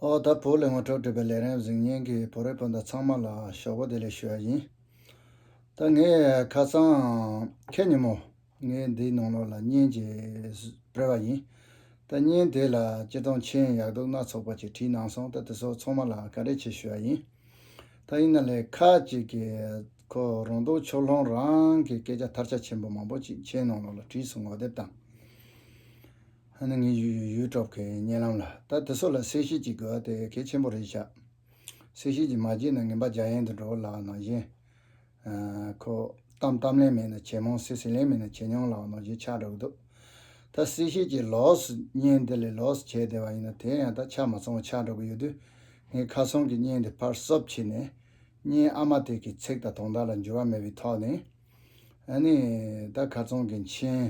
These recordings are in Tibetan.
ཨོ་ད་བོ་ལས་ངོ་ཐོག་བྲིས་པའི་ལས་རན་གཟིགས་བརྙན་གྱི་བོ་རེ་སྤུན་ཟླ་ཚང་མ་ལ་ཞོགས་པ་བདེ་ལེགས་ཞུ་ཡ་ཡིན། ད་ངས་ཁ་སང། ཁྱེད་ཉིན་མོ། ངས་འདིའི་ནང་ལོགས་ལ་བརྙན་ཅིག་སྤེལ་བ་ཡིན། ད་བརྙན་དེ་ལ་སྤྱིར་བཏང་མཆན་ཡག་སྡུག་སྣ་ཚོགས་པ་ཅིག་བྲིས་གནང་སོང་ད་དེ་ཚོ་ཚང་མ་ལ་ག་རེ་བྱས་ཞུ་ཡ་ཡིན། ད་ཡིན་ན་ལས་ཁ་ཅིག་གི་ཁོ་རང་སྡུག་ཕྱོགས་ལྷོང་རང་གི་སྐད་ཆ་ཐར་ཆ་ཆེན་པོ་མང་པོ་ཅིག་མཆན་ནང་ལོགས་ལ་བྲིས་སོང་ངོ་དེབ་དང། ཧ་ནི་ངའི་ཡུལ་ཡུལ་གྲོགས་ཀྱི་སྙན་ལམ་ལ་ད་དེ་ཚོ་ལ་གསལ་བཤད་ཅིག་དགོས་བ་དེ་གལ་ཆེན་པོ་རེད་ཤག་གསལ་བཤད་ཅིག་མ་བྱས་ན་ངན་པ་རྒྱ་ཡན་དུ་འགྲོ་བ་ལགས་ནང་བཞིན་ཁོ་གཏམ་གཏམ་ལན་མེད་ན་བྱེད་མང་གསེ་གསེ་ལན་མེད་ན་བྱེད་ཉུང་ལགས་ནང་བཞིན་ཆགས་འགྲོ་གི་འདུག་ད་གསལ་བཤད་ཅིག་ལོགས་སུ་བརྙན་འདི་ལས་ལོགས་སུ་བྱས་བསྡད་བ་ཡིན་ན་དེ་ཡང་ད་ཆགས་མ་སོང་བ་ཆགས་འགྲོ་གི་ཡོད་དུས་ངའི་ཁ་སང་གི་བརྙན་དེ་ཕར་གསོབ་བྱས་ནས་བརྙན་ཨ་མ་དེ་གི་ཚིག་དང་དོང་དག་ལ་འགྱུར་བ་མེད་པའི་ཐོག་ནས་ཧ་ནི་ད་ག་ཚང་གི་མཆན།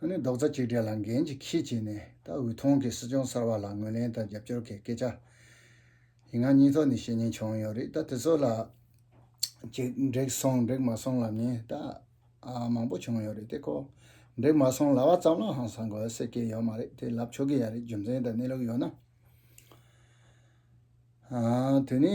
ཨ་ནི་རྡོག་རྩ་གཅིག་སྒྲིལ་ལ་འགན་གཅིག་ཁྱི་བྱས་ནས་ད་འོས་ཐོང་གི་སྲིད་སྐྱོང་གསར་བ་ལ་ངོས་ལེན་དང་རྒྱབ་སྐྱོར་གི་སྐད་ཆ་ཡིན་ང་གཉིས་ཐོག་ནས་བཤད་ཉན་བྱུང་ཡོད་རེད་ད་དེ་ཚོ་ལ་ཅིག་འགྲིག་སོང་འགྲིག་མ་སོང་ལབ་ཉན་ད་མང་པོ་བྱུང་ཡོད་རེད་དེ་ཁོ་འགྲིག་མ་སོང་ལབ་བ་ཙམ་ལ་ཧང་སང་དགོས་སེ་སྐད་ཡོད་མ་རེད་དེ་ལབ་ཆོག་གི་ཡ་རེད་རྒྱུ་མཚན་དང་གནས་ལུགས་ཡོད་ན་དེ་ནི།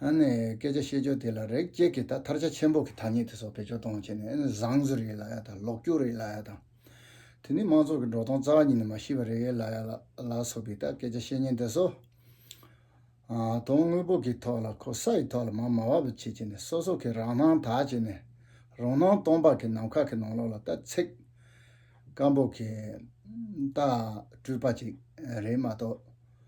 ཨ་ནི་སྐད་ཆ་བཤད་ཕྱོགས་དེ་ལ་རེག་བཅད་ཀྱིས་ད་ཐར་ཆ་ཆེན་པོ་གི་ཐ་སྙད་དེ་སོགས་བེད་སྤྱོད་གཏོང་བྱས་ནས་ཨ་ནི་བཟང་བཟོ་རེད་ལ་ཡ་དང་ལོག་སྐྱོར་རེད་ལ་ཡ་དང། དེ་ནི་མང་ཚོགས་ཀྱི་འགྲོ་སྟངས་རྩ་བ་ཉིད་ནས་མ་ཤེས་པ་རེད་ལ་ཡ་ལ་སོགས་པའི་ད་སྐད་ཆ་བཤད་ཉེན་དེ་སོ། དོན་དངོས་པོ་གི་ཐོག་ལ་ཁོ་ས་ཡི་ཐོག་ལ་མ་དམའ་བ་བེད་སྤྱད་བྱས་ནས་སོ་སོ་གི་རང་སྣང་དག་བྱས་ནས་རང་སྣང་སྟོང་པ་གི་ནམ་མཁའ་གི་ནང་ལོགས་ལ་ད་ཚེག་སྐམ་པོ་གི་ད་སྤྲུལ་པ་ཅིག་རེད་མ་གཏོགས།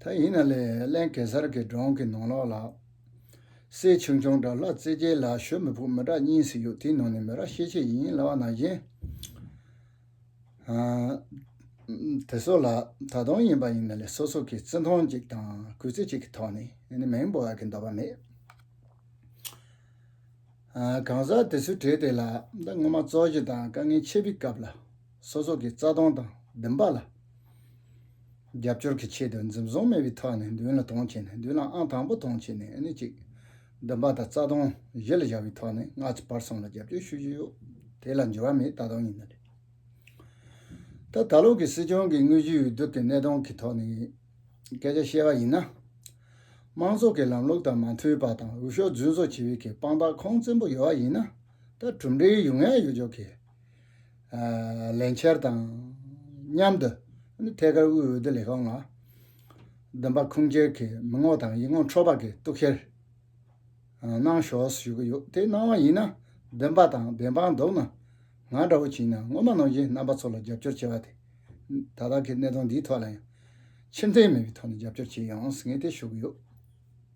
ད་ཡིན་ན་ལས་གླན་གེ་སར་གྱི་སྒྲོང་གི་ནང་ལོགས་ལ། སེར་ཆུང་ཆུང་འདྲ་ལྷ་རྩེ་རྒྱལ་ལ་ཞོལ་མི་ཕོ་མི་འདྲ་གཉིས་སུ་ཡོད་དེའི་ནང་ནས་མི་ར་ཤེས་ཆེ་ཡིན་ལ་བ་ན་བཞིན། དེ་སོགས་ལ་ད་དུང་ཡིན་པ་ཡིན་ན་ལས་སོ་སོ་གི་བརྩི་མཐོང་གཅིག་དང་གུས་བརྩི་གཅིག་གི་ཐོག་ནས་ནི་མིང་འབོད་ཨ་གི་འདོད་པ་མེད། གང་ཟག་དེ་ཚོའི་གྲས་དེ་ལ་ད་སྔོན་མ་བཙོག་བཞི་དང་དཀའ་ངལ་ཆེ་བི་སྐབས་ལ། སོ་སོ་གི་རྩ་སྟོང་དང་བདུན་པ་ལ། རྒྱབ་སྐྱོར་གྱི་ཆེད་དུ་འཛིན་བཟུང་མེད་པའི་ཐོག་ནས་མདུན་ལ་དོང་བྱས་ནས་མདུན་ལ་ཨང་དང་པོ་དོང་བྱས་ནས་ཨ་ནི་གཅིག། བདུན་པ་དང་རྩ་སྟོང་བཞི་ལ་བཞག་པའི་ཐོག་ནས་སྔ་ཕྱི་བར་གསུམ་ལ་རྒྱབ་སྐྱོར་ཞུ་བཞིན་ཡོད། དེ་ལ་འགྱུར་བ་མེད་ད་དུང་ཡིན་ན་རེད། ད་ད་ལོ་གི་སྲིད་སྐྱོང་གི་དངོས་གཞིའི་འོས་བསྡུ་གི་གནས་སྟངས་ཀྱི་ཐོག་ནས་སྐད་ཆ་བཤད་པ་ཡིན་ན། དམངས་གཙོ་གི་ལམ་ལུགས་དང་མ་མཐུན་པ་དང་འོས་ཤོག་རྫུན་བཟོ་བྱེད་པའི་དཔང་རྟགས་ཁོང་བཙན་པོ་ཡོད་པ་ཡིན་ན་ད་གྲུབ་འབྲས་ཡོད་ངེས་ཡོད་ཆོག་གི་ལན་ཆེར་དང་མཉམ་དུ་ཐད་ཀར་དབུས་འོས་བསྡུ་ལས་ཁང་ལ་བདུན་པ་ཁུངས་སྐྱེལ་གྱི་མི་ངོ་དང་ཡིག་ངོ་འཕྲོད་པ་གི་གཏུག་བཤེར་གནང་ཞོར་ཞུ་གི་ཡོད་དེ་གནང་བ་ཡིན་ན་བདུན་པ་དང་བདེན་དཔང་འདུག་ན་ང་འདྲ་བོ་བྱིན་ན་སྔོན་མ་ནང་བཞིན་རྣམ་པ་ཚོ་ལ་རྒྱབ་སྐྱོར་བྱེད་པ་དེ་ད་ལྟ་གི་གནད་དོན་འདིའི་ཐོག་ལ་ཡང་ཕྱིར་འཐེན་མེད་པའི་ཐོག་ནས་རྒྱབ་སྐྱོར་བྱེད་ཡོང་ངེས་དེ་ཞུ་གི་ཡོད།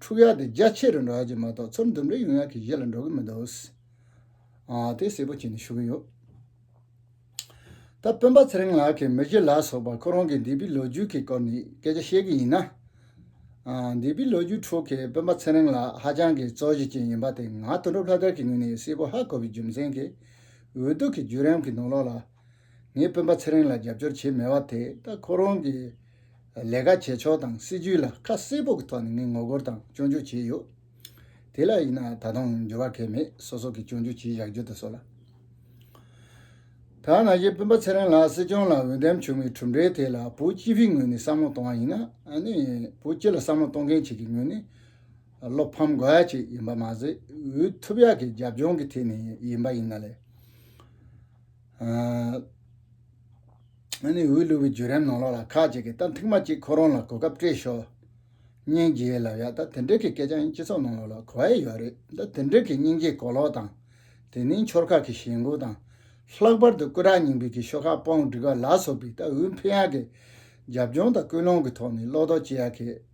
འཁྲུག་ཡ་དེ་རྒྱ་ཆེ་རུ་འགྲོ་ཡ་གྱི་མ་གཏོགས་ཚུར་འདུམ་འགྲིག་ཡོང་ཡ་གྱི་གཞི་ལ་འགྲོ་གི་མི་འདུག་དེ་གསལ་པོ་བྱས་ནས་ཞུ་གི་ཡོད། ད་སྤུན་པ་ཚེ་རིང་ལགས་ཀྱིས་མི་བཞི་ལ་སོགས་པ་ཁོ་རང་གི་འདས་པའི་ལོ་རྒྱུས་ཀྱི་སྐོར་ནས་སྐད་ཆ་བཤད་གི་ཡིན་ན། འདས་པའི་ལོ་རྒྱུས་ཁྲོད་ཀྱི་སྤུན་པ་ཚེ་རིང་ལགས་ཧ་ཅང་གི་གཙོ་གཞི་ཅན་ཡིན་པ་དེ་ང་དོན་གྲུབ་ལྷ་དར་གྱི་ངོས་ནས་གསལ་པོ་ཧ་གོ་བའི་རྒྱུ་མཚན་གྱིས་འོས་བསྡུ་གྱི་བརྒྱུད་རིམ་གྱི་ནང་ལོགས་ལ་ངས་སྤུན་པ་ཚེ་རིང་ལ་རྒྱབ་སྐྱོར་བྱེད་མི་བ་དེ་ད་ཁོ་རང་གི་ལས་ཀ་བྱེད་ཕྱོགས་དང་སྲིད་ཇུས་ལ་ཁ་གསལ་པོ་གི་ཐོག་ནས་ངས་ངོ་རྒོལ་དང་སྐྱོན་བརྗོད་བྱས་ཡོད། དེ་ལ་ཡིན་ན་ད་དུང་འགྱུར་བ་གལ་མེད་སོ་སོ་གི་སྐྱོན་བརྗོད་བྱེད་བཞག་རྒྱུ་དེ་སོ་ལ། ཐ་ན་གཞི་སྤུན་པ་ཚེ་རིང་ལགས་སྲིད་སྐྱོང་ལ་འོས་འདེམས་བྱུང་བའི་གྲུབ་འབྲས་དེ་ལ་བོད་སྤྱི་བའི་ངོས་ནས་བསམ་བློ་གཏོང་བ་ཡིན་ན་ནི་བོད་སྤྱི་ལ་བསམ་བློ་གཏོང་མཁན་ཞིག་གི་ངོས་ནས་བློ་ཕམ་དགོས་ཡ་ཅིག་ཡིན་པ་མ་ཟད་འོས་ཐུབ་ཡ་གི་རྒྱབ་ལྗོངས་ཀི་ཐད་ནས་ཡིན་པ་ཡིན་ན་ལས། ཨ་ནི་འོས་བླུགས་པའི་བརྒྱུད་རིམ་ནང་ལོགས་ལ་ཁག་ཅིག་གིས་ད་ཐེངས་མ་གཅིག་ཁོ་རང་ལ་གོ་སྐབས་སྤྲད་ཤོག་སྙིང་རྗེའི་ལབ་ཡ་ད་དེ་འདྲས་ཀྱི་སྐད་ཆ་ཡང་སྤྱི་ཚོགས་ནང་ལོགས་ལ་གོ་ཨེ་ཡོད་རེད་ད་དེ་འདྲས་ཀྱི་སྙིང་རྗེའི་གོ་ལོག་དང་དེ་ནས་འཆོར་ཁག་གི་ཞེན་འགོག་དང། ལྷག་པར་དུ་སྐུ་དྲག་རྙིང་པའི་གི་ཤོ་ཁག་སྤོང་སྒྲིག་པ་ལ་སོགས་པའི་ད་འོས་འཕེན་ཡག་གི་རྒྱབ་ལྗོངས་དང་སྐུལ་སློང་གི་ཐོག་ནས་ལོག་རྟོག་སྤྱི་ཡག་གི།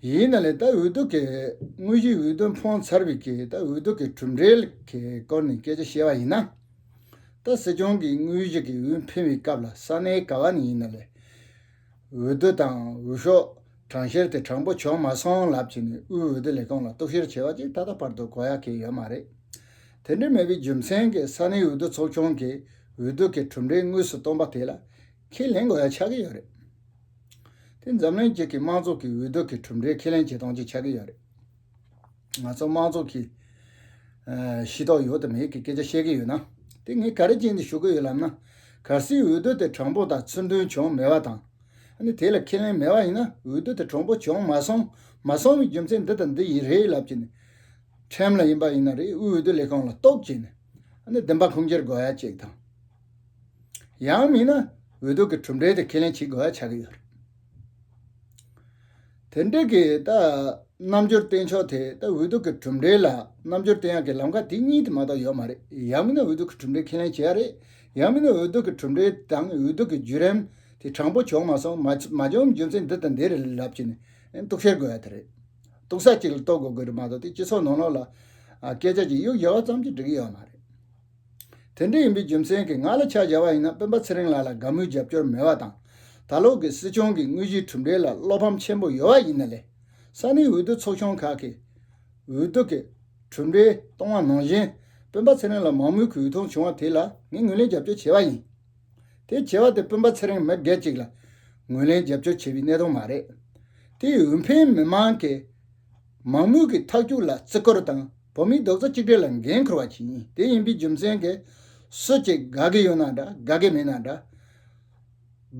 ཡིན་ན་ལས་ད་འོས་བསྡུ་གི་དངོས་གཞི་འོས་བསྡུ་འཕོངས་ཚར་བའི་གི་ད་འོས་བསྡུ་གི་གྲུབ་འབྲས་གི་སྐོར་ནས་སྐད་ཆ་བཤད་པ་ཡིན་ན། ད་སྲིད་སྐྱོང་གི་དངོས་གཞི་གི་འོས་འཕེན་བའི་སྐབས་ལ་ས་གནས་ག་བ་ནས་ཡིན་ན་ལས། འོས་བསྡུ་དང་འོས་ཤོག་གྲངས་བཤེར་དེ་དྲང་པོ་བྱུང་མ་སོང་ལབ་བྱས་ནས་དབུས་འོས་བསྡུ་ལས་ཁང་ལ་གཏུག་བཤེར་བྱས་པ་གཅིག་ད་ལྟ་བར་དུ་གོ་ཡ་གི་ཡོད་མ་རེད། དེ་འདྲ་མེད་པའི་རྒྱུ་མཚན་གིས་ས་གནས་འོས་བསྡུ་ཚོགས་ཆུང་གི་འོས་བསྡུ་གི་གྲུབ་འབྲས་དངོས་སུ་སྟོང་པ་དེ་ལ། ཁས་ལེན་དགོས་ཡ་ཆགས་ཀྱི་ཡོད་རེད། དེ་འཛམ་གླིང་གཅིག་གི་དམངས་ཚོགས་ཀྱི་འོས་བསྡུ་གི་གྲུབ་འབྲས་ཁས་ལེན་བྱེད་སྟངས་གཅིག་ཆགས་ཀྱི་ཡོད་རེད། ང་ཚོ་དམངས་ཚོགས་ཀྱིས། ཤེས་རྟོགས་ཡོད་དམ་མེད་ཀྱི་སྐད་ཆ་བཤད་ཀྱི་ཡོད་ན། དེ་ངས་ག་རེ་བྱས་འདི་ཞུ་གི་ཡོད་ལབ་ན། གལ་སྲིད་འོས་བསྡུ་དེ་དྲང་པོ་དང་ཚུར་འདོན་བྱུང་མེད་པ་དང། ནི་དེ་ལ་ཁས་ལེན་མེད་པ་ཡིན་ན་འོས་བསྡུ་དེ་དྲང་པོ་བྱུང་མ་སོང་མ་སོང་བའི་རྒྱུ་མཚན་འདི་དང་འདི་ཡིན་རེད་ལབ་ཀྱི་ནི། ཁྲིམས་ལ་ཡིན་པ་ཡིན་ན་རེད་འོས་བསྡུ་ལས་ཁང་ལ་རྟོག་བྱས་ནས། ནི་བདེན་པ་ཁུངས་སྐྱེལ་དགོས་ཡ་གཅིག་དང། ཡང་མིན་ན་འོས་བསྡུ་གི་གྲུབ་འབྲས་དེ་ཁས་ལེན་བྱེད་དགོས་པ་ཆགས་ཀྱི་ཡོད་རེད། དེ་འབྲེལ་གྱི་ད་རྣམ་འགྱུར་བསྟན་ཕྱོགས་དེ་ད་འོས་བསྡུ་གི་གྲུབ་འབྲས་ལ་རྣམ་འགྱུར་བསྟན་ཡག་གི་ལམ་ཁ་དེ་གཉིས་དེ་མ་གཏོགས་ཡོད་མ་རེད་ཡང་མིན་ན་འོས་བསྡུ་གི་གྲུབ་འབྲས་ཁས་ལེན་བྱེད་ཡག་རེད་ཡང་མིན་ན་འོས་བསྡུ་གི་གྲུབ་འབྲས་དང་འོས་བསྡུ་གི་བརྒྱུད་རིམ་དེ་དྲང་པོ་བྱུང་མ་སོང་མ་བྱུང་རྒྱུ་མཚན་འདི་དང་འདི་རེད་ལབ་ཀྱི་ནས་གཏུག་བཤེར་དགོས་ཡག་དེ་རེད། གཏུག་ས་གཅིག་ལ་གཏོགས་དགོས་དགོས་རེད་མ་གཏོགས་དེ་སྤྱི་ཚོགས་ནང་ལོག་ལ་སྐད་ཆ་གཅིག་གཡུག་ཡོད་ཙམ་གྱིས་འགྲིག་གི་ཡོད་མ་རེད། དེ་འདྲ་ཡིན་པའི་རྒྱུ་མཚན་གྱིས་ང་ལ་ཕྱག་བྱ་བ་ཡིན་ན་སྤེན་པ་ཚེ་རིང་ལགས་ལ་དགའ་མོས་རྒྱབ་སྐྱོར་མེད་བ་དང། ད་ལོག་གི་སྲིད་སྐྱོང་གི་དངོས་གཞིའི་གྲུབ་འབྲས་ལ་བློ་ཕམ་ཆེན་པོ་ཡོད་བ་ཡིན་ན་ལས་ས་གནས་འོས་བསྡུ་ཚོགས་ཆུང་ཁག་གིས་འོས་བསྡུ་གི་གྲུབ་འབྲས་གཏོང་བ་ནང་བཞིན་སྤེན་པ་ཚེ་རིང་ལ་མང་མོས་གུས་ཐོང་བྱུང་བ་དེ་ལ་ངས་ངོས་ལེན་རྒྱབ་སྐྱོར་བྱས་བ་ཡིན། དེ་བྱས་བ་དེ་སྤེན་པ་ཚེ་རིང་མི་སྒེར་གཅིག་ལ་ངོས་ལེན་རྒྱབ་སྐྱོར་བྱས་བའི་གནད་དོན་མ་རེད། དེ་ཡིས་འོས་འཕེན་མི་མང་གི། མང་མོས་ཀྱི་འཐབ་རྒྱུག་ལ་བརྩི་བཀུར་དང་བོད་མིའི་རྡོག་རྩ་གཅིག་སྒྲིལ་ལ་འགན་འཁུར་བ་ཞིག་ཡིན་དེ་ཡིན་པའི་རྒྱུ་མཚན་གྱིས། སུ་གཅིག་དགའ་གི་ཡོད་ན་འདྲ་དགའ་གི་མེད་ན་འདྲ།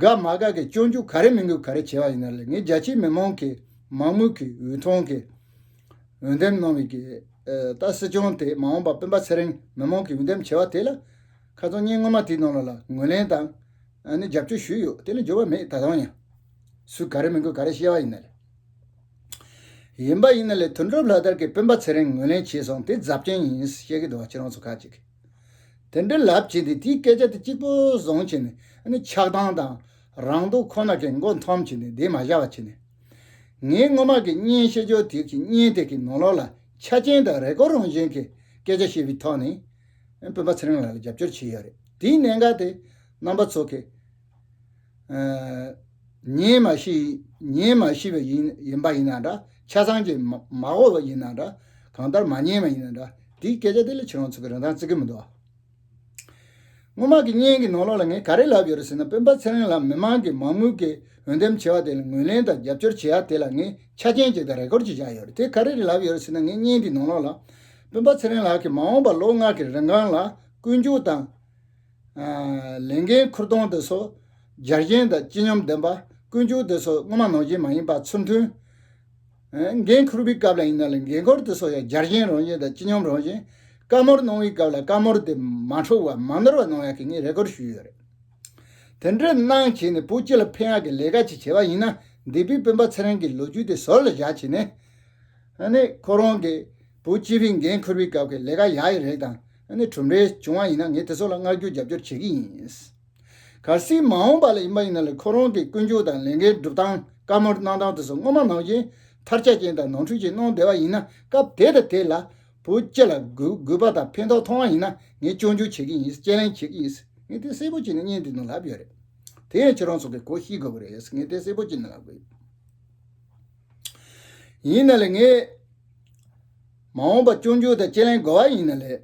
དགའ་མ་དགའ་གི་སྤྱོད་འཇུག་ག་རེ་མི་འགུལ་ག་རེ་བྱེད་པ་ཡིན་ན་ལས་ངས་རྒྱ་ཆེའི་མི་མང་གི་མང་མོས་ཀྱི་འོས་མཐོང་གི་འོས་འདེམས་གནང་བའི་གི་ད་སྲིད་སྐྱོང་དེ་མ་འོངས་པ་སྤུན་པ་ཚེ་རིང་མི་མང་གི་འོས་འདེམས་བྱེད་པ་དེ་ལ་ཁ་ཚོན་སྙིང་སྔོན་མ་དེའི་ནང་ལ་ངོས་ལེན་དང། ནི་རྒྱབ་སྐྱོར་ཞུས་ཡོད་དེ་ལ་འགྱུར་བ་མེད་ད་དུང་ཡང། སུས་ག་རེ་མི་འགུལ་ག་རེ་བཤད་པ་ཡིན་ན་ལས། ཡིན་པ་ཡིན་ན་ལས་དོན་སྒྲུབ་ལྷག་དར་གྱི་སྤུན་པ་ཚེ་རིང་ངོས་ལེན་བྱས་སོང་དེ་རྫབ་ཆེན་ཡིན་བཤད་ཀྱི་འདུག་ཁྱེད་རང་ཚོ་ཁག་ཅིག་གིས་དེ་འདྲའི་ལབ་བྱེད་དེ་དེའི་སྐད་ཆ་དེ་གཅིག་པོ་བཟུང་བྱས་ནས་ནི་ཆགས་སྡང་དང་རང་སྡུག་ཁོ་ན་གྱི་མགོ་འཐོམ་བྱས་ནས་དེ་མ་བཞག་བ་བྱས་ནས། ངའི་སྔོན་མ་གི་བརྙན་བཤད་ཅོ་དེ་གི་བརྙན་དེ་གི་ནང་ལོགས་ལ་ཆ་རྐྱེན་དང་རེ་སྐོར་རང་བཞིན་གྱི་སྐད་ཆ་བཤད་པའི་ཐོག་ནས་སྤུན་པ་ཚེ་རིང་ལགས་ལ་རྒྱབ་སྐྱོར་བྱས་ཡོད་རེད་དེའི་གནད་འགག་དེ་རྣམ་པ་ཚོ་གི་ཉིད་མ་ཤེས་པ་ཡིན་པ་ཡིན་ན་འདྲ་ཆ་ཚང་གིས་མ་གོ་བ་ཡིན་ན་འདྲ་གང་ལྟར་མ་ཉེས་པ་ཡིན་ན་འདྲ་འདིའི་སྐད་ཆ་དེ་ལས་ཆེ་རང་ཚུགས་ཀྱི་རིན་ཐང་བརྩི་གི་མི་འདུག་སྔོན་མ་གི་བརྙན་གྱི་ནང་ལོགས་ལ་ངས་ག་རེ་ལབ་ཡོད་རེད་ཟེར་ན་སྤེན་པ་ཚེ་རིང་ལགས་མི་མང་གིས་མ་དངུལ་གྱི་འོས་འདེམས་བྱས་བ་དེ་ལ་ངོས་ལེན་དང་རྒྱབ་སྐྱོར་བྱས་ཡ་དེ་ལ་ངས་ཆ་རྐྱེན་གཅིག་དང་རེ་སྐོར་གཅིག་བཞག་ཡོད་རེད་དེ་ག་རེ་རེད་ལབ་ཡོད་རེད་ཟེར་ན་ངས་བརྙན་དེའི་ནང་ལོགས་ལ་སྤེན་པ་ཚེ་རིང་ལགས་ཀྱིས་མ་འོངས་པར་ལོ་ལྔ་གི་རིན་གོང་ལ་བསྐོས་འཇུག་དང། ལས་འགན་འཁུར་གཏོང་དེ་སོགས་རྒྱལ་ཞེན་དང་སྤྱི་སྙོམས་ལྡན་པ་ཀུན་སྤྱོད་དེ་སོགས་དངོས་མ་ནོར་རྗེས་མ་ཡིན་པ་ཚུར་མཐུན། འགན་འཁུར་བའི་སྐབས་ལ་ཡིན་ན་ལས་འགན་འཁོར་དེ་སོགས་ཡང་རྒྱལ་ཞེན་རང་བཞིན་དང་སྤྱི་སྙོམས་རང་བཞིན། བཀའ་མོལ་གནང་བའི་སྐབས་ལ་བཀའ་མོལ་དེ་མ་འཁྲུག་བ་མ་ནོར་བ་གནང་ཡག་གི་ངས་རེ་སྐུལ་ཞུས་ཡོད་རེད། དེ་འདྲའི་གནང་བྱས་ནས་བོད་སྤྱི་ལ་ཕན་ཡག་གི་ལས་ཀ་ཅིག་བྱས་པ་ཡིན་ན་འདས་པའི་སྤེན་པ་ཚེ་རིང་གི་ལོ་རྒྱུས་དེ་ཟུར་ལ་བཞག་བྱས་ནས། ཁོ་རང་གིས་བོད་སྤྱི་པའི་འགན་འཁུར་བའི་སྐབས་ཀྱི་ལས་ཀ་ཡག་ཡག་རེ་དང། ནས་གྲུབ་འབྲས་བྱུང་བ་ཡིན་ན་ངས་དེ་ཚོ་ལ་མངགས་བསྒྱུར་རྒྱབ་སྐྱོར་བྱེད་ཀྱི་ཡིན། གལ་སྲིད་མ་འོངས་པ་ལ་ཡིན་པ་ཡིན་ན་ལ་ཁོ་རང་གི་ཀུན་སྤྱོད་དང་ལས་འགན་སྒྲུབ་སྟངས་བཀའ་མོལ་གནང་སྟངས་དེ་ཚོ་སྔོན་མ་ནང་བཞིན་མཐར་ལྕག་ཅན་དང་ནང་འཁྲུལ་ཅན་གནང་བསྡད་པ་ཡིན་ན་སྐབས་དེ་དང་དེ་ལ་བུ་སྐྱེ་ལ་རྒུད་པ་དང་ཕན་ཐོགས་མཐོང་བ་ཡིན་ན་ངས་སྐྱོན་བརྗོད་བྱེད་ཀྱི་ཡིན་དཔྱད་གླེང་བྱེད་ཀྱི་ཡིན་ངས་དེ་གསལ་པོ་བྱས་ནས་བརྙན་འདི་ནང་ལབ་ཡོད་རེད་དེ་ཡང་ཁྱེད་རང་ཚོ་གིས་གོ་ཤེས་དགོས་པ་རེད་ངས་དེ་གསལ་པོ་བྱས་ནས་ལབ་དགོས། ཡིན་ན་ལེ་ངས། མ་འོངས་པ་སྐྱོང་རྒྱུ་དང་དཔྱད་གླེང་དགོས་བ་ཡིན་ན་ལེ།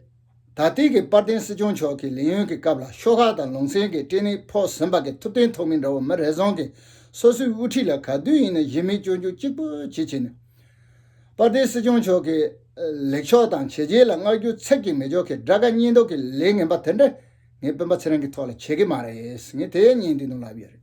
ད་ལྟིག་གི་དཔར་ལྡན་སྲིད་སྐྱོང་མཆོག་གི་ལས་ཡུན་གི་སྐབས་ལ་ཤོག་ཁག་དང་ལུང་ཚན་གི་སྐྲན་ནི་ཕོག་ཟིན་པ་གི་ཐུབ་བསྟན་ཐོག་མི་འདྲ་བོ་མི་རེ་ཟུང་གི་སོ་སོའི་དབུ་ཁྲིད་ལ་ག་དུས་ཡིན་ན་གཞི་མེད་སྐྱོང་རྒྱུ་གཅིག་པུ་བྱེད་བྱེད་ནི། དཔར་ལྡན་སྲིད་སྐྱོང་མཆོག་གི་ལེགས་ཕྱོགས་དང་བྱས་རྗེས་ལ་བསྔགས་རྒྱུ་ཚད་ཀྱིས་མི་ཆོག་གི་དགྲ་དགའ་གཉེན་སྡུག་གི་ལས་ངན་པ་དེ་འདྲ་ངའི་སྤུན་པ་ཚེ་རིང་གི་ཐོག་ལ་བྱེད་གི་མ་རེད་ངས་དེ་ཡས་ཉན་དུས་ནོར་ལབ་ཡོད་རེད།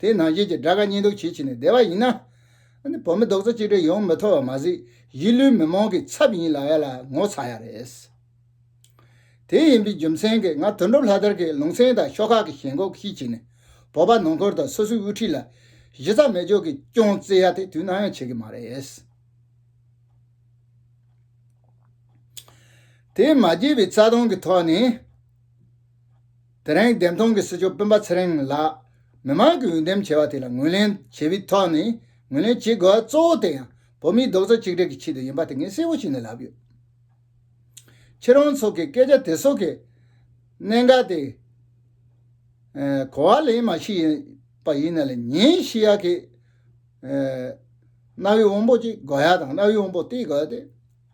དེའི་ནང་བཞིན་གྱི་དགྲ་དགའ་གཉེན་སྡུག་བྱེད་བྱས་ནས་བསྡད་པ་ཡིན་ན། བོད་མི་རྡོག་རྩ་གཅིག་སྒྲིལ་ཡོང་མི་ཐུབ་པ་མ་ཟད་གཞིས་ལུས་མི་མང་གི་ཚབ་ཡིན་ལགས་ཡ་ལ་ངོ་ཚ་ཡ་རེད། དེ་ཡིན་པའི་རྒྱུ་མཚན་གྱིས་ང་དོན་གྲུབ་ལྷ་དར་གྱིས་ལུང་ཚན་དང་ཤོག་ཁག་གི་ཞེན་ཁོག་ཤེས་བྱས་ནས་བོད་པ་ནང་འཁོར་དང་སོ་སོའི་དབུ་ཁྲིད་ལ་གཞི་རྩ་མེད་འཇོག་གི་རྐྱོང་བརྩེ་ཡ་དེ་དུས་ནམ་ཡང་བྱེད་ཀྱི་མ་རེད། དེས་མ་བརྗེད་པའི་རྩ་དོན་གྱི་ཐོག་ནས། དེ་རིང་བདེན་མཐོང་གི་སྲིད་སྐྱོང་སྤེན་པ་ཚེ་རིང་ལགས་མི་དམངས་ཀྱི་འོས་འདེམས་བྱས་པ་དེ་ལ་ངོས་ལེན་བྱེད་པའི་ཐོག་ནས་ངོས་ལེན་བྱེད་དགོས་པ་གཙོ་བོ་དེ་ཡང་བོད་མིའི་རྡོག་རྩ་གཅིག་སྒྲིལ་གྱི་ཆེད་དུ་ཡིན་པ་དེ་ངས་གསལ་བོ་ཞིག་ནས་ལབ་ཡོད། ཁྱེད་རང་ཚོ་གི་སྐད་ཆ་དེ་ཚོ་གི་གནད་འགག་དེ། གོ་བ་ལེན་མ་ཞིག་ཡིན་པ་ཡིན་ན་ལས་ཉིན་ཤི་ཡག་གིས། གནའ་བོའི་དབང་པོ་གཅིག་དགོས་ཡག་དང་གནའ་བོའི་དབང་པོ་གཏིག་དགོས་ཡག་དེ།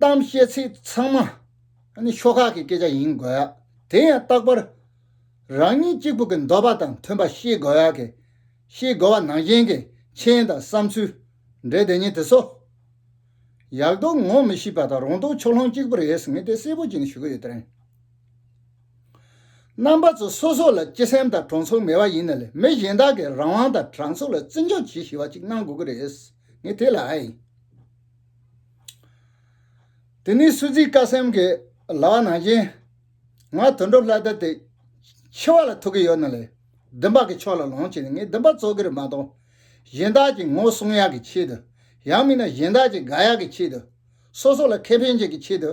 གཏམ་བཤད་ཚིག་ཚང་མ་ནི་ཤོག་ཁག་གི་སྐད་ཆ་ཡིན་དགོས། དེ་ཡང་རྟག་པར་རང་ཉིད་གཅིག་པུ་གི་འདོད་པ་དང་མཐུན་པ་ཤེས་དགོས། ཤེས་དགོས་པ་ནང་བཞིན་གྱི་མཆན་དང་བསམ་ཚུལ་འབྲེལ་དེ་ཉིད་དེ་སོ། ཡག་རྡོག་ངོ་མི་ཤེས་པ་དང་རོང་རྡོག་ཕྱོགས་ལྷུང་གཅིག་པུ་རེད་ཟེར་ངེས་དེ་གསལ་པོ་ཅིག་ནི་ཞུ་གི་ཡོད་དེ་རེད། རྣམ་པ་ཚོ་སོ་སོ་ལ་སྤྱི་སེམས་དང་གྲོང་ཚོ་ངེས་པ་ཡིན་ན་ལས་མི་གཞན་དག་གིས་རང་དབང་དང་དྲང་ཚུགས་ལ་བརྩི་འཇོག་བྱེད་ཤེས་པ་ཅིག་གནང་དགོས་ཀྱི་རེད། ངས་དེ་ལ་ཨེ། དེ་ནས་སུ་ཛིའི་ཀ་སེམས་ཀྱི་ལག་ནང་བཞིན། ང་དོན་གྲུབ་ལྷ་དར་དེ་འཆི་བ་ལ་ཐུག་གི་ཡོད་ན་ལས་བདུན་པ་གི་ཕྱོགས་ལ་ལོངས་སྤྱད་ནས་ངས་བདུན་པ་རྩོད་གི་རེད་མ་གཏོགས། གཞན་དག་གི་ངོ་སྲུང་ཡག་གི་ཆེད་དུ། ཡང་མིན་ན་གཞན་དག་གི་དགའ་ཡག་གི་ཆེད་དུ། སོ་སོ་ལ་ཁེ་ཕན་བྱེད་ཀྱི་ཆེད་དུ།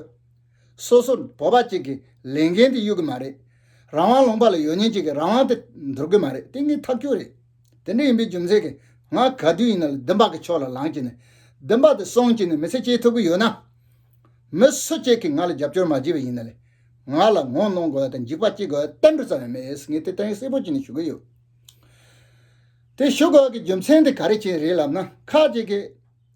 སོ་སོར་བོད་པ་གཅིག་གིས་ལས་འགན་དེ་གཡོལ་གི་མ་རེད། རང་དབང་ལུང་པ་ལ་ཡོད་ཉེན་གཅིག་གིས་རང་དབང་དེ་འདོར་གི་མ་རེད་དེ་ངའི་ཐག་གཅོད་རེད། དེ་འདྲ་ཡིན་པའི་རྒྱུ་མཚན་གྱིས་ང་ག་དུས་ཡིན་ན་ལ་བདུན་པ་གི་ཕྱོགས་ལ་ལངས་ཀྱི་ནས་བདུན་པ་དེ་སོང་ཀྱི་ནས་མི་ཚེ་སྐྱེལ་ཐུབ་གི་ཡོད་ན། མི་སུ་གཅིག་གིས་ང་ལ་རྒྱབ་སྐྱོར་མ་བགྱིས་པ་ཡིན་ན་ལས་ང་ལ་ངོ་གནོང་དགོས་པ་དང་འཇིགས་པ་སྐྱེ་དགོས་པ་གཏན་འབྲུ་ཙམ་ཡང་མེད་ངས་དེ་ལྟ་བུའི་གསལ་པོ་བྱས་ནས་ཞུ་གི་ཡོད། དེ་ཞུ་དགོས་ཀྱི་རྒྱུ་མཚན་དེ་ག་རེ་བྱས་རེད་ལབ་ན་ཁག་ཅིག་གིས།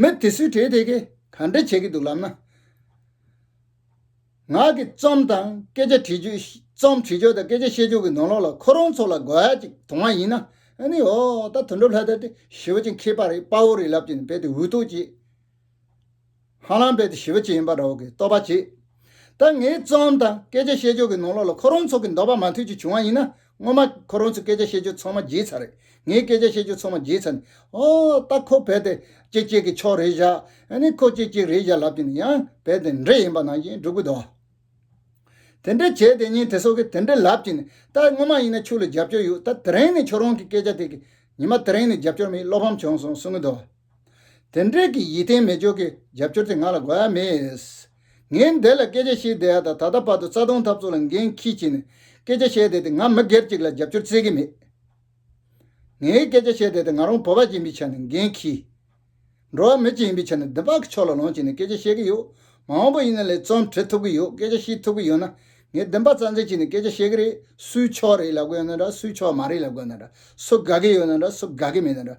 མི་དེ་སུས་གྲས་དེ་གས་ག་འདྲ་བྱེད་ཀྱི་འདུག་ལབ་ན། ང་གི་རྩོམ་དང་སྐད་ཆ་བྲིས་ཆོག་རྩོམ་བྲིས་ཆོག་དང་སྐད་ཆ་བཤད་ཆོག་གི་ནོར་ལོག་ལ་ཁོ་རང་ཚོ་ལ་དགོས་ཡ་ཅིག་དོང་བ་ཡིན་ན་ཨ་ནི་ཨོ་ད་དོན་གྲུབ་ལྷ་དར་དེ་ཞི་བ་ཅན་ཁྱེད་པ་རེད་དཔའ་བོ་རེད་ལབ་ཀྱི་འདུག་དཔེ་དེ་འུད་ཐུག་བྱེད། ཧ་ལམ་རྦད་དེ་ཞི་བ་ཅི་ཡིན་པ་ར་བ་གིས་རྟོགས་པར་བྱེད། ད་ངའི་རྩོམ་དང་སྐད་ཆ་བཤད་སྦྱོར་གྱི་ནང་ལོགས་ལ་ཁོ་རང་ཚོ་གི་འདོད་པ་མ་འཐུས་ཀྱི་བྱུང་བ་ཡིན་ན་སྔོན་མ་ཁོ་རང་ཚོའི་སྐད་ཆ་བཤད་སྦྱོར་ཚང་མ་བརྗེད་ཚར་རེད་ངའི་སྐད་ཆ་བཤད་སྦྱོར་ཚང་མ་བརྗེད་ཚར་ནས་ཨོ་ད་ཁོ་རྦད་དེ་ཅེག་ཅེག་གི་ཕྱོགས་རེད་བཞག་ནས་ཁོ་ཅེག་ཅེག་རེད་བཞག་ལབ་ཀྱི་ནི་ཡང་རྦད་དེ་འདྲེ་ཡིན་པ་ནང་བཞིན་སྒྲུག་གི་འདུག་དེ་འདྲས་བྱས་དེ་ཉིན་དེ་སོགས་ཀྱི་དེ་འདྲས་ལབ་ཀྱི་ནི་ད་སྔོན་མ་ཡིན་ན་ཕྱུགས་ལ་རྒྱབ་སྐྱོར་ཡོད་ད་དེ་རིང་ནི་ཁྱོད་རང་གི་སྐད་ཆ་དེ་གིས་ཉི་མ་དེ་རིང་ནི་རྒྱབ་སྐྱོར་མེད་བློ་ཕམ་བྱུང་སོང་གསུང་གི་འདུག། དེ་འབྲེལ་གྱི་ཡིད་བརྟན་མེད་འཇོག་གི་རྒྱབ་སྐྱོར་དེ་ང་ལ་དགོས་ཡ་མེད། ངས་འདས་ལ་སྐད་ཆ་བཤད་བསྡད་ཡ་དང་ད་ལྟ་བར་དུ་རྩ་སྟོང་འཐབ་རྩོད་ལ་འགན་འཁྱི་བྱས་ནས་སྐད་ཆ་བཤད་བསྡད་དེ་ང་མི་སྒེར་ཅིག་ལ་རྒྱབ་སྐྱོར་བཙལ་གི་མེད། ངས་སྐད་ཆ་བཤད་བསྡད་དེ་ང་རང་བོད་པ་ཅིག་ཡིན་པའི་ཆ་ནས་འགན་འཁྱི། འགྲོ་བ་མི་ཅིག་ཡིན་པའི་ཆ་ནས་བདུན་ཕག་གི་ཕྱོགས་ལ་ལོངས་སྤྱད་ནས་སྐད་ཆ་བཤད་གི་ཡོད། མ་འོངས་པ་ཡིན་ན་ལས་རྩོམ་བྲི་ཐུབ་གི་ཡོད་སྐད་ཆ་བཤད་ཐུབ་གི་ཡོད་ན་ངས་བདུན་ཕག་རྩ་འཛིན་བྱས་ནས་སྐད་ཆ་བཤད་གི་རེད་སུའི་ཕྱོགས་རེད་ལབ་གི་ཡོད་ན་འདྲ་སུའི་ཕྱོགས་མ་རེད་ལབ་གི་ཡོད་ན་འདྲ་སུ་དགའ་གི་ཡོད་ན་འདྲ་སུ་དགའ་གི་མེད་ན་འདྲ།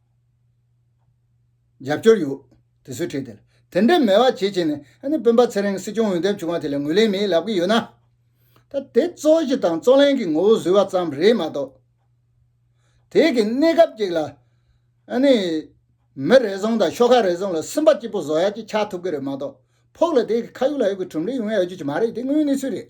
རྒྱབ་སྐྱོར་ཡོད། དེ་ཚོའི་གྲས་དེ་ལ། དེ་འདྲའི་མེད་བ་བྱེད་བྱེད་ནས། སྤུན་པ་ཚེ་རིང་སྲིད་སྐྱོང་འོས་འདེམས་བྱུང་བ་དེ་ལ་ངོས་ལེན་མེད་ལབ་ཀྱི་ཡོད་ན། ད་དེ་གཙོ་གཞི་དང་གཙོ་ལན་གྱི་ངོ་བོ་བཟོས་བ་ཙམ་རེད་མ་གཏོགས། དེས་གི་གནས་སྐབས་ཅིག་ལ། མི་རེ་ཟུང་དང་ཤོག་ཁག་རེ་ཟུང་ལ་སུན་པ་སྐྱིད་པོ་བཟོ་ཡ་གཅིག་ཆགས་ཐུབ་ཀྱི་རེད་མ་གཏོགས། ཕོགས་ལ་དེས་གི་ཁ་ཡུག་ལ་ཡུག་གི་གྲུམ་ལས་ཡོང་ཡ་ཡོད་རྒྱུ་ཅིག་མ་རེད་དེ་དངོས་གནས་ཚུལ་རེད།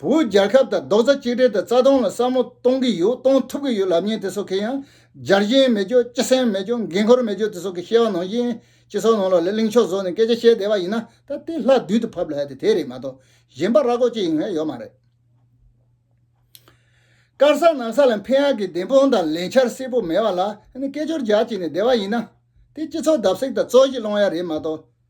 བོད་རྒྱལ་ཁབ་དང་རྡོག་རྩ་གཅིག་སྒྲིལ་དང་རྩ་སྟོང་ལ་བསམ་བློ་གཏོང་གི་ཡོད་གཏོང་ཐུབ་ཀྱི་ཡོད་ལབ་ཉེན་དེ་སོགས་ཁེ་ཡང་སྦྱར་གཞན་མེད་ཀྱོ་སྤྱི་སེམས་མེད་ཀྱོ་འགན་ཁུར་མེད་ཀྱོ་དེ་སོགས་ཀྱི་བཤད་བ་ནང་བཞིན་སྤྱི་ཚོགས་ནང་ལ་ལས་གླིང་ཕྱོགས་བཟོ་ནས་སྐད་ཆ་བཤད་བསྡད་པ་ཡིན་ན་ད་དེ་ལྷ་བདུད་དུ་ཕབ་ལ་དེ་དེ་རེད་མ་གཏོགས་གཞན་པ་ར་གོ་ཅི་ཡིན་ངེས་ཡོད་མ་རེད། དཀར་ས་ནག་ས་ལ་འཕེན་ཡག་གི་བདེན་དཔང་དང་ལས་འཆར་གསལ་པོ་མེད་པ་ལ་ཧ་ནི་སྐད་ཅོར་རྒྱག་བྱས་ནས་བསྡད་པ་ཡིན་ན་དེ་སྤྱི་ཚོགས་བརྡབ་གསིག་དང་རྩོད་གཞི་སློང་ཡག་རེད་མ་གཏོགས།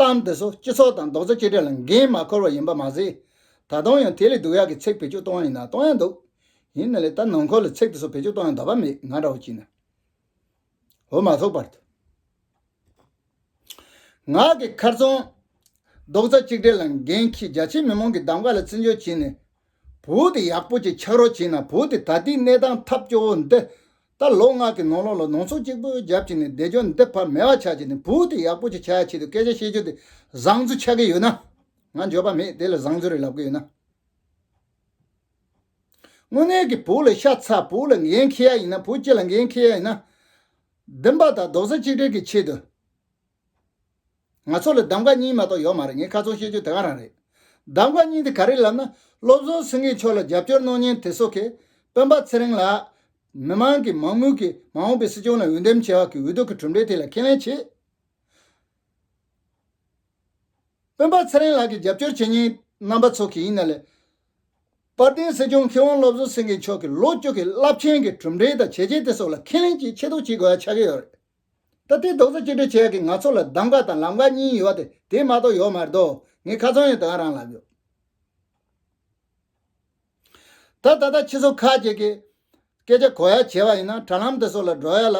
གཏམ་དེ་ཚོ་སྤྱི་ཚོགས་དང་རྡོག་རྩ་གཅིག་སྒྲིལ་ལ་འགན་མ་འཁུར་བ་ཡིན་པ་མ་ཟད། ད་དུང་ཡང་དེ་ལས་སྡུག་ཡག་གི་ཚིག་བེད་སྤྱོད་གཏོང་ཡང་ན་གཏོང་ཡང་འདུག་ཡིན་ན་ལས་ད་ནང་འཁོར་ལ་ཚིག་དེ་ཚོ་བེད་སྤྱོད་གཏོང་ཡང་དག་པ་མེད་ང་འདྲ་བོ་གྱིས་ན། འོ་མ་ཐུག་པར་དུ། ང་གི་ཁར་ཙོང། རྡོག་རྩ་གཅིག་སྒྲིལ་ལ་འགན་ཁྱི་རྒྱ་ཆེ་མི་མང་གི་གདམ་ག་ལ་བརྩི་འཇོག་བྱེད་ནས། བུ་དེ་ཡག་པོ་གཅིག་ཆགས་རོགས་བྱས་ན་བུ་དེ་ད་ལྟའི་གནས་སྟངས་ཐབས་སྐྱོ་བོ་འདི་ལྟར་ལོ་ལྔ་གི་ནང་ལོགས་ལ་ནང་ཚོགས་གཅིག་པོའི་རྒྱབ་ཀྱིས་ནས་བདེ་སྐྱོང་འདེབས་ཕར་མེད་བ་ཆགས་ཀྱི་ནས་བུ་དེ་ཡག་པོ་ཅིག་ཆགས་ཆེད་དུ་སྐད་ཆ་བཤད་རྒྱུ་དེ་བཟང་ཚུལ་ཆགས་ཀྱི་ཡོད་ན། ང་འགྱོད་པ་མེད་དེ་ལ་བཟང་ཚུལ་རེ་ལབ་ཀྱི་ཡོད་ན། དངོས་གནས་ཀྱི་བུ་ལ་ཤ་ཚ་བུ་ལ་འགན་འཁྱེར་ཡ་ཡིན་ན་བུ་སྐྱེ་ལ་འགན་འཁྱེར་ཡ་ཡིན་ན། བདེན་པ་དང་རྡོག་རྩ་གཅིག་སྒྲིལ་གྱི་ཆེད་དུ། ང་ཚོ་ལ་གདམ་ག་གཉིས་མ་གཏོགས་ཡོད་མ་རེད་ངས་ཁ་ཚོན་བཤད་རྒྱུ་དེ་ག་རང་རེད། གདམ་ག་གཉིས་དེ་ག་རེད་ལབ་ན་བློ་བཟང་སེང་གེ་མཆོག་ལ་རྒྱབ་སྐྱོར་གནང་ཉེན་དེ་སོག་གེ། སྤེན་པ་ཚེ་རིང་ལགས། མི་མང་གིས་མང་མོས་ཀྱིས་མ་འོངས་པའི་སྲིད་སྐྱོང་ལ་འོས་འདེམས་བྱས་བ་གིས་འོས་བསྡུ་གི་གྲུབ་འབྲས་དེ་ལ་ཁས་ལེན་བྱེད། སྤེན་པ་ཚེ་རིང་ལགས་ཀྱི་རྒྱབ་སྐྱོར་བྱེད་ཉེན་རྣམ་པ་ཚོག་གེ་ཡིན་ན་ལས། དཔལ་ལྡན་སྲིད་སྐྱོང་མཁས་དབང་བློ་བཟང་སེང་གེ་མཆོག་གི་ལོ་བཅུ་གི་རླབས་ཆེན་གྱི་གྲུབ་འབྲས་དང་བྱས་རྗེས་དེ་སོག་ལ་ཁས་ལེན་གྱིས་ཆེ་ཐོག་བྱེད་དགོས་ཡ་ཆགས་གི་ཡོད་རེད། ད་ལྟའི་རྡོག་བཟོ་གཅིག་སྒྲིལ་བྱས་ཀྱི་ང་ཚོ་ལ་གདམ་ག་དང་ལམ་ཁ་གཉིས་ཡོད་དེ་དེ་མ་གཏོགས་ཡོད་མ་རེད་དོ་ངས་ཁ་ཚོན་ཡང་དེ་ག་རང་ལབ་ཡོད། ད་ད་ལྟ་ཁྱི་ཟོ་ཁ་ཅིག་གིས་སྐད་ཆ་གོ་ཡ་བྱས་པ་ཡིན་ན་དྲ་ལམ་དེ་སོགས་ལ་འགྲོ་ཡ་ལ་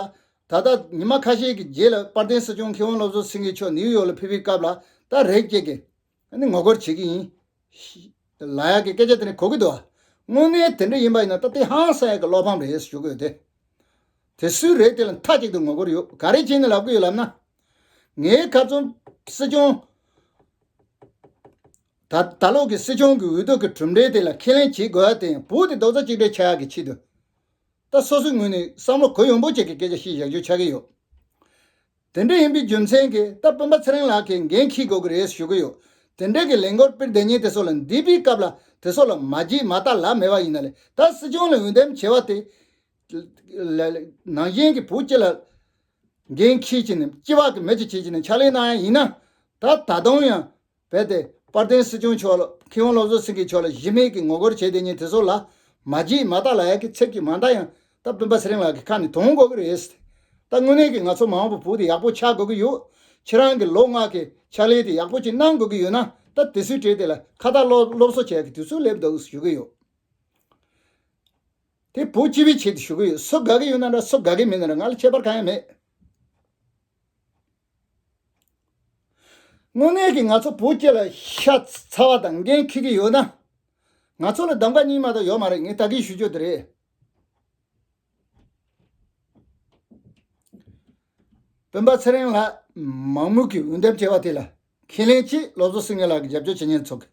ད་ལྟ་ཉི་མ་ཁ་ཤས་ཀྱི་རྗེས་ལ་དཔར་ལྡན་སྲིད་སྐྱོང་ཁི་ཝང་བློ་བཟོ་སེང་གེ་མཆོག་ནིའུ་ཡོག་ལ་ཕེབས་པའི་སྐབས་ལ་ད་རེག་ཅིག་གིས་ནི་ངོ་རྒོལ་བྱེད་ཀྱི་ཡིན། ལ་ཡག་གི་སྐད་ཆ་དེ་ནི་གོ་གི་འདུག་དངོས་གནས་དེ་འདྲ་ཡིན་པ་ཡིན་ན་ད་ལྟའི་ཧང་སངས་ཡག་གི་བློ་ཕམ་རེད་ཞུ་གི་ཡོད་དེ། དེ་སུའི་རེད་དེ་ལ་མཐའ་གཅིག་ཏུ་ངོ་རྒོལ་ཡོད་ག་རེ་བྱས་ནས་ལབ་གི་ཡོད་ལབ་ན། ངའི་ཁ་རྩོམ། སྲིད་སྐྱོང། ད་ད་ལོག་གི་སྲིད་སྐྱོང་གི་འོས་ལྡོག་གི་གྲུབ་འབྲས་དེ་ལ་ཁས་ལེན་བྱེད་དགོས་ཡ་དེ་བོད་དེ་རྡོག་རྩ་གཅིག་སྒྲིལ་བྱ་ཡག་གི་ཆེད་དུ། ད་སོ་སོའི་ངོས་ནས་བསམ་བློ་གོ་ཡོང་པོ་བྱེད་ཀྱི་སྐད་ཆ་ཤིག་བཞག་རྒྱུ་ཆགས་ཀྱི་ཡོད། དེ་འདྲ་ཡིན་པའི་རྒྱུ་མཚན་གྱིས་སྟབས་སྤུན་པ་ཚེ་རིང་ལགས་ཀྱིས་འགན་འཁྱིལ་དགོས་ཀྱི་རེད་ཞུ་གི་ཡོད། དེ་འབྲེལ་གྱི་ལས་འགོར་དཔེར་ལྡན་ཉིན་དེ་སོགས་ལ་འདས་པའི་སྐབས་ལ་དེ་སོགས་ལ་མ་བགྱིས་མ་བལྟ་ལབ་མེད་པ་ཡིན་ན་ལས་ད་སྲིད་སྐྱོང་ལ་འོས་འདེམས་བྱས་བ་དེ། ནང་བཞིན་གྱི་བུ་སྐྱེས་ལ་འགན་འཁྱིལ་བྱས་ནས་སྐྱི་བག་གི་མི་ཅིག་བྱེད་བྱས་ནས་ཕྱག་ལས་གནང་ཡ་ཡིན་ན། ད་ད་དུང་ཡང་རྦད་དེ་དཔལ་ལྡན་སྲིད་སྐྱོང་མཆོག་ལ་ཁི་ཧོང་སློབ་གསོ་སེང་གེ་མཆོག་ལ་གཞི་མེད་ཀྱི་ངོ་རྒོལ་བྱས་དེ་ཉིད་དེ་ཚོ་ལ་མ་བགྱིས་མ་བལྟ་ལ་ཡག་གི་ཚེག་གི་མ་འདའ་ཡང་ད་སྤུན་པ་ཚེ་རིང་ལགས་ཀྱི་ཁ་ནས་དུང་འགོ་གི་རེད་ད་དངོས་གནས་ཀྱི་ང་ཚོ་མང་བོ་བུ་དེ་ཡག་པོ་ཆགས་དགོས་ཀྱི་ཡོད་ཁྱེད་རང་གི་ལོ་ལྔ་གི་ཕྱག་ལས་དེ་ཡག་པོ་ཅིག་གནང་དགོས་ཀྱི་ཡོད་ན་ད་དེ་སུས་བྲེལ་དེ་ལ་ཁ་བཏགས་སློབ་སློབ་གསོ་བྱས་གི་དུས་ཚོད་སླེབས་འདུག་ཞུ་གི་ཡོད་དེ་བུ་སྤྱི་བའི་ཆེད་དུ་ཞུ་གི་ཡོད་སུ་དགའ་གི་ཡོད་ན་འདྲ་སུ་དགའ་གི་མེད་ན་འདྲ་ང་ལ་ཁྱད་པར་གང་ཡང་མེད། དངོས་གནས་ཀྱི་ང་ཚོ་བོུ་སྐྱེས་ལ་ཤ་ཚ་བ་དང་འགན་འཁྱེར་གྱི་ཡོད་ན། ང་ཚོ་ལ་གདམ་ཀ་གཉིས་མ་གཏོགས་ཡོད་མ་རེད་ངས་ད་གིན་ཞུ་རྒྱུ་དེ་རེད། སྤུན་པ་ཚེ་རིང་ལགས་མང་མོས་ཀྱིས་འོས་འདེམས་བྱས་པ་དེ་ལ་ཁས་ལེན་ཆེད་སློབ་གསོ་སེང་གེ་ལགས་ཀྱི་རྒྱབ་སྐྱོར་བྱེད་ཉེན་ཚོགས་ཀྱི་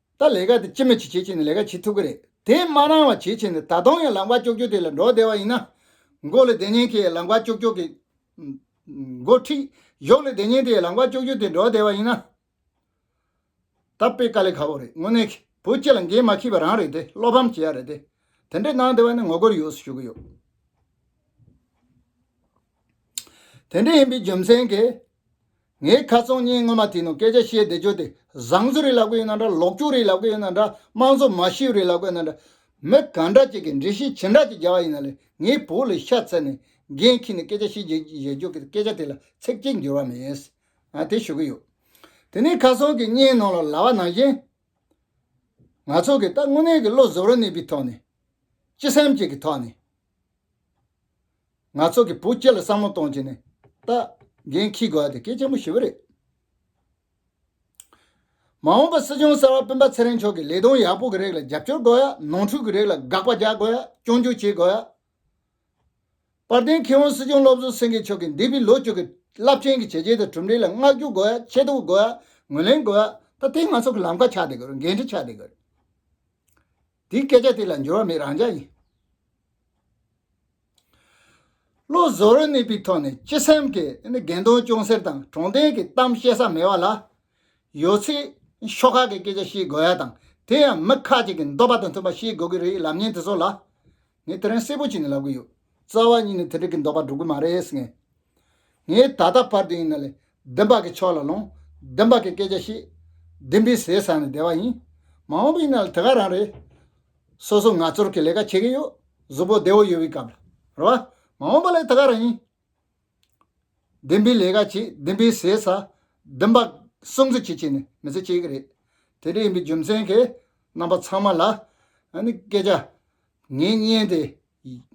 ད་ལས་ཀ་དེ་ཅི་མི་བྱེད་བྱེད་བྱེད་ནས་ལས་ཀ་བྱེད་ཐུབ་ཀྱི་རེད་དེ་མ་རང་བ་བྱེད་བྱེད་ནས་ད་དུང་ཡང་ལག་པ་ཀྱོག་ཀྱོག་དེ་ལ་འགྲོ་བསྡད་པ་ཡིན་ན། མགོ་ལས་བསྡད་ཉེན་ཁའི་ཡང་ལག་པ་ཀྱོག་ཀྱོག་གིས། མགོ་མཁྲིགས་གཞོགས་ལས་བསྡད་ཉེན་དེ་ཡང་ལག་པ་ཀྱོག་ཀྱོག་དེ་འགྲོ་བསྡད་པ་ཡིན་ན། ད་དཔེ་དཀའ་ལས་ཁ་བོ་རེད་དངོས་གནས་ཁྱི་བོད་སྤྱི་ལ་འགན་མ་ཁྱི་བ་རང་རེད་དེ་བློ་ཕམ་བྱེད་ཡ་རེད་དེ། དེ་འདྲས་གནང་བསྡད་པ་ནི་ངོ་རྒོལ་ཡོད་སུ་ཞུ་གི་ཡོད། དེ་འདྲ་ཡིན་པའི་རྒྱུ་མཚན་གྱིས། ངས་ཁ་ཚོན་གཉིས་སྔོན་མ་དེ་ནང་སྐད་ཆ་བཤད་བསྡད་རྒྱུ་དེ་བཟང་ཚུལ་རེད་ལབ་གི་ཡོད་ན་འདྲ་ལོག་སྤྱོད་རེད་ལབ་གི་ཡོད་ན་འདྲ་དམངས་གཙོ་མ་ཤེས་རེད་ལབ་གི་ཡོད་ན་འདྲ། མི་ག་འདྲ་ཅིག་གིས་འགྲེལ་བཤད་ཇི་འདྲ་ཅིག་རྒྱག་ཡིན་ན་ལས་ངའི་བོད་ལ་ཤ་ཚ་ནས་འགན་འཁྱེར་ནས་སྐད་ཆ་བཤད་བསྡད་རྒྱུ་གི་སྐད་ཆ་དེ་ལ་ཚིག་གཅིག་འགྱུར་བ་མེད། དེ་ཞུ་གི་ཡོད། དེ་ནས་ཁ་ཚོན་གྱི་གཉིས་ནང་ལ་ལ་བ་ནང་བཞིན། ང་ཚོ་གིས་ད་དངོས་གནས་ཀྱི་བློ་གཟུ་རུ་གནས་པའི་ཐོག་ནས། སྤྱི་སེམས་ཅིག་གི་ཐོག་ནས། ང་ཚོ་གི་བུ་སྐྱེ་ལ་བསམ་བློ་གཏོང་བྱེད་ནི་ལྟ་འགན་འཁྱིལ་དགོས་དེ་སྐད་ཆེན་པོ་ཞུ་བ་རེད། མ་འོངས་པ་སྲིད་སྐྱོང་གསར་བ་སྤུན་པ་ཚེ་རིང་མཆོག་གི་ལས་དོན་ཡག་པོ་གི་རིགས་ལ་རྒྱབ་སྐྱོར་དགོས་ཡ་ནོར་འཁྲུལ་གི་རིགས་ལ་དགག་པ་རྒྱག་དགོས་ཡ་སྐྱོན་བརྗོད་བྱེད་དགོས་ཡ། དཔལ་ལྡན་མཁས་དབང་སྲིད་སྐྱོང་བློ་བཟོ་སེང་གེ་མཆོག་གི་འདས་པའི་ལོ་བཅུ་གི་རླབས་ཆེན་གི་བྱས་རྗེས་དང་གྲུབ་འབྲས་ལ་བསྔགས་བརྗོད་དགོས་ཡ་ཆེ་བསྟོད་དགོས་ཡ་ངོས་ལེན་དགོས་ཡ་ད་ལྟའི་ང་ཚོ་གི་ལམ་ཁ་ཆགས་བསྡད་དགོས་རེད་འགན་འཁྲི་ཆགས་བསྡད་དགོས་རེད། དེའི་སྐད་ཆ་དེ་ལ་འགྱུར་བ་མེད་རང་འཇགས་ཡིན། བློ་བཟོ་རུ་གནས་པའི་ཐོག་ནས་སྤྱི་སེམས་ཀྱི་འགལ་འདུ་ཅུང་ཟད་དང་གྲོང་སྡེ་གི་གཏམ་བཤད་ས་མེད་བ་ལ། ཡོད་ཚད་ཤོག་ཁག་གི་སྐད་ཆ་བཤད་དགོས་ཡ་དང་དེ་ཡང་མི་ཁག་ཅིག་གི་འདོད་པ་དང་མཐུན་པ་བཤད་དགོས་ཀྱི་རེད་ལབ་ཉེན་དེ་ཚོ་ལ། ངས་དེ་རིང་གསལ་པོ་གྱིས་ནས་ལབ་གི་ཡོད། རྩ་བ་གཉིས་ནས་དེ་འགྲིག་གི་འདོགས་པ་འགྲོ་གི་མ་རེད་ཟེར། ངས་ད་ལྟ་བར་དུ་ཡིན་ན་ལས་བདེན་པ་གི་ཕྱོགས་ལ་ལོངས་བདེན་པ་གི་སྐད་ཆ་བཤད། བདེན་པའི་ཟས་བཟའ་ནས་བསྡད་པ་ཡིན། མ་འོངས་པ་ཡིན་ན་ལ་དེ་ག་རང་རེད། སོ་སོ་ང་ཚོར་གི་ལས་ཀ་བྱེད་གི་ཡོད། གཟུགས་པོ་བདེ་བོ་ཡོད་པའི་སྐབས་ལ་རེད་བ། མ་འོངས་པ་ལ་དེ་ག་རང་ཡིན། བདེན་པའི་ལས་ཀ་བྱེད་བདེན་པའི་ཟས་ཟ། བདེན་པ་སྲུང་བརྩི་བྱེད་ཅེས་ནི་མི་ཚེ་གཅིག་རེད། དེ་འདྲ་ཡིན་པའི་རྒྱུ་མཚན་གྱིས་རྣམ་པ་ཚང་མ་ལ། སྐད་ཆ། ངའི་བརྙན་དེ།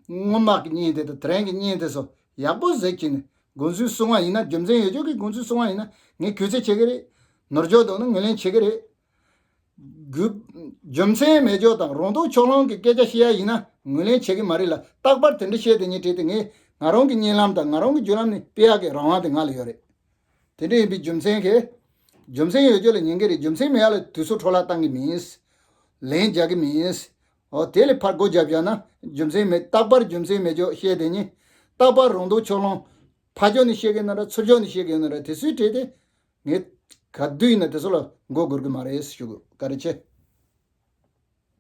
སྔོན་མ་གི་བརྙན་དེ་དང་དེ་རིང་གི་བརྙན་དེ་སོགས་ཡག་པོ་ཟེར་གྱིས་ནི་དགོངས་ཚུལ་གསུང་བ་ཡིན་ན་རྒྱུ་མཚན་ཡོད་ཆོག་གི་དགོངས་ཚུལ་གསུང་བ་ཡིན་ན་ངས་གུས་བརྩི་བྱེད་ཀྱི་རེད། ནོར་འཇོག་འདུག་ན་ངོས་ལེན་བྱེད་ཀྱི་རེད། དགོས། རྒྱུ་མཚན་མེད་ཕྱོགས་དང་རོང་འབྲོག་ཕྱོགས་གླང་གི་སྐད་ཆ་བཤད་ཡ་ཡིན་ན་ངོས་ལེན་བྱེད་ཀྱི་མ་རེད་ལ་རྟག་པར་དེ་འདྲ་བཤད་དེ་ཉེས་བྲེལ་དེ་ངས་ང་རང་གི་གཉེན་ལམ་དང་ང་རང་གི་རྒྱུ་ལམ་ནི་སྤེལ་ཡག་གི་རང་དབང་དེ་ང་ལ་ཡོད་རེད། དེ་འདྲ་ཡིན་པའི་རྒྱུ་མཚན་གྱིས། རྒྱུ་མཚན་ཡོད་ཁྱོད་ལ་ཉན་གྱི་རེད་རྒྱུ་མཚན་མེད་ཡ་ལ་དུས་སུ་འཕྲོ་བརླག་བཏང་གི་མིན། ལན་རྒྱག་གི་མིན། ཨོ་དེ་ལས་ཕར་སྒོ་བརྒྱབ་བཞག་ན་རྒྱུ་མཚན་མེད་རྟག་པར་རྒྱུ་མཚན་མེད་ཕྱོགས་བཤད་དེ་ཉེས། རྟག་པར་རོང་འབྲོག་ཕྱོགས་གླང། ཕ་ཕྱོགས་ནས་བཤད་གི་ན་ར་ཚུར་ཕྱོགས་ནས་བཤད་གི་ཡོད་ན་ར་དེ་སུའི་གྲས་དེ། ངས་ག་དུས་ཡིན་ན་དེ་ཚོ་ལ་མགོ་སྒུར་གི་མ་རེད་ཞུ་ག་རེ་བྱེད།